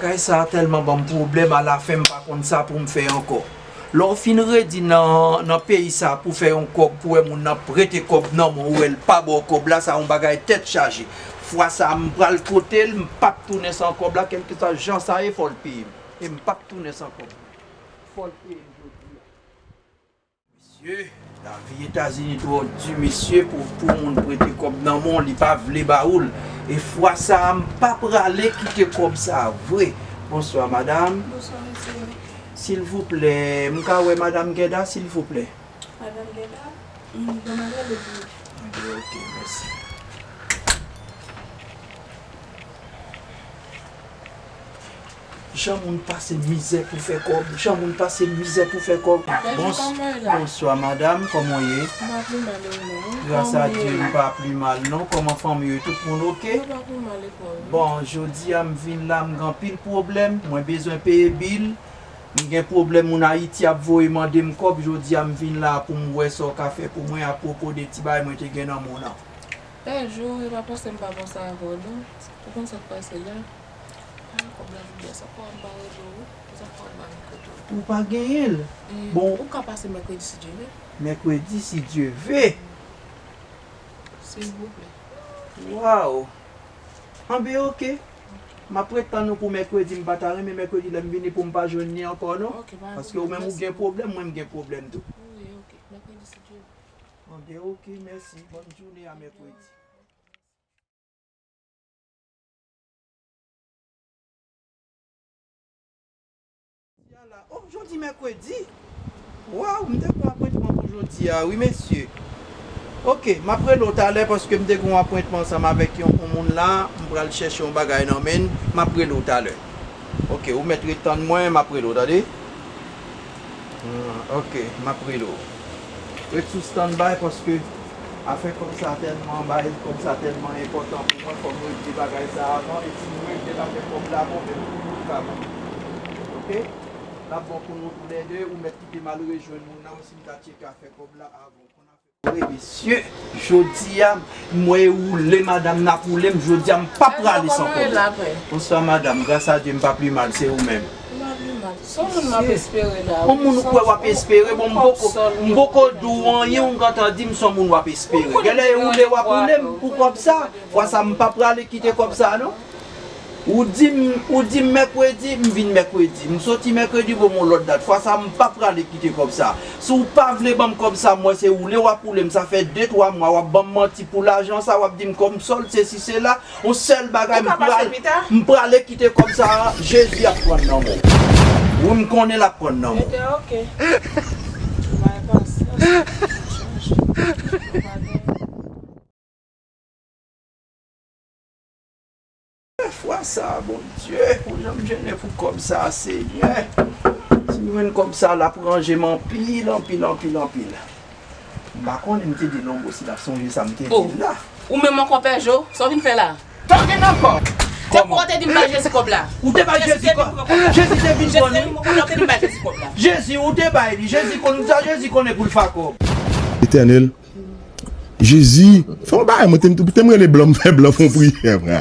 Kay sa telman banm pwoblèm ala fen m pa konn sa poum fè ankò lè w fin redi nan peyi sa pou fè yon kòb pou wè moun nan prete kòb nan men w ou wè l pa baw kòb la sa yon bagay tèt chaje fwa sa m pral pote l m pap tounen san kòb la kèlkeswa jan sa ye fò l peye m e m pap tounen san kòb la fò l peye m jodi a. Mesye lavi etazini trò du mesye pou pou moun prete kòb nan menw li pa vle ba oul e fwa sa a m pa prale kite kòb sa a vre bonswa madam Bonswa mesye. silvouplè m ka wè madam gèda silvouplè. Madam gèda m banm adrès li pou ou. Mande ok mèsi. Jan moun pase mizè pou fè kòb Jan moun pase mizè pou fè kòb Bonswa madam kòman w ye Gras a Dye m pa pli mal non kòman fanmi yo tout moun ok Bon jodi a m vin la m gen anpil pwoblèm mwen bezwen peye bil m gen pwoblèm moun Ayiti ap voye mande m kòb jodi a m vin la pou m wè sa w ka fè pou mwen apwopo de ti bagay mwen te gen nan mou nan. Bèjou e pa panse m pa panse avè w non ou konn sa k pase la. Ou pa genyen l? Bon. Ou ka pase mèkredi si Dye ve. Mèkredi si Dye ve. Silvouplè. Waww. Anben ok. M ap ret tann ou pou mèkredi. M pa ta renmen mèkredi lè m vini pou m pa jwenn li ankò non. Ok, pa gen pwoblèm. Paske ou menm ou gen pwoblèm, mwen m gen pwoblèm tou. Wi, ok. Mèkredi si Dye ve. Anben ok, mèsi. Bòn joune a mèkredi. Jodi mèkredi waw m te gen yon apwentman pou jodi a wi mesye ok map rele w talè paske m te gen yon apwentman ansanm avèk yon moun la m pral chèche yon bagay nan men l map rele w talè ok ou mèt ret tann mwen map rele w tande. Ok map rele w. Ret sou standby paske afè kòb sa tèlman bay kòb sa tèlman enpòtan pou mwen fòm regle bagay sa avan e si nou regle l afè kòb la bon menm pou nou li pa bon ok lap bon pou nou tou lè 2 ou mèt kite mal rejwenn moun nan ou si m ta tcheke afè kòb la avan. Woy mesye jodia m wè e woule madam nan ap woule m jodia m pa prale san konnen. Bonswa madam gras a Dye m pa pli mal se ou menm. M pa pli mal. Son moun m ap espere la wi. Son moun ou kwè w ap espere bon m poko di w anyen ou gentan di m son moun w ap espere. Genlè e woule w ap woule m pou kòb sa. Fwa sa m pa prale kite kòb sa non. Ou di m ou di m mèkredi, m vin mèkredi. M soti mèkredi bo m yon lòt dat. Fwa sa m pa prale kite kòb sa. Si w pa vle ban m kòb sa mwen se woule w ap woule m. Sa fè de twa mwa w ap ban m manti pou lajan sa, w ap di m kòm sòl sesi sela. Yon sèl bagay m pral m prale kite kòb sa an, Jezi ap pran nan men w. Wi m konnen l ap pran nan men w. Fwa sa bondye ou janm jennen pou kob sa senyè sim jwenn kob sa lap ranjem anpil anpil anpil anpil m pa konnen m te di non boo si lap sonje sa m te dil la. Ou menm ankò pè jo, sa w vin fè la a? Tank in ankò! Se pou ou te di m bay Jezi kòb la. Ou te bay Jezi kòb la. Jezi te vin pran li. Ou te di m bay Jezi kòb la. Jezi ou te bay li. Jezi konn sa Jezi konnen pou l fa kòb. Etènel, Jezi fè yon bagay mwen te m rele blan m fè blan fon priyè mwen.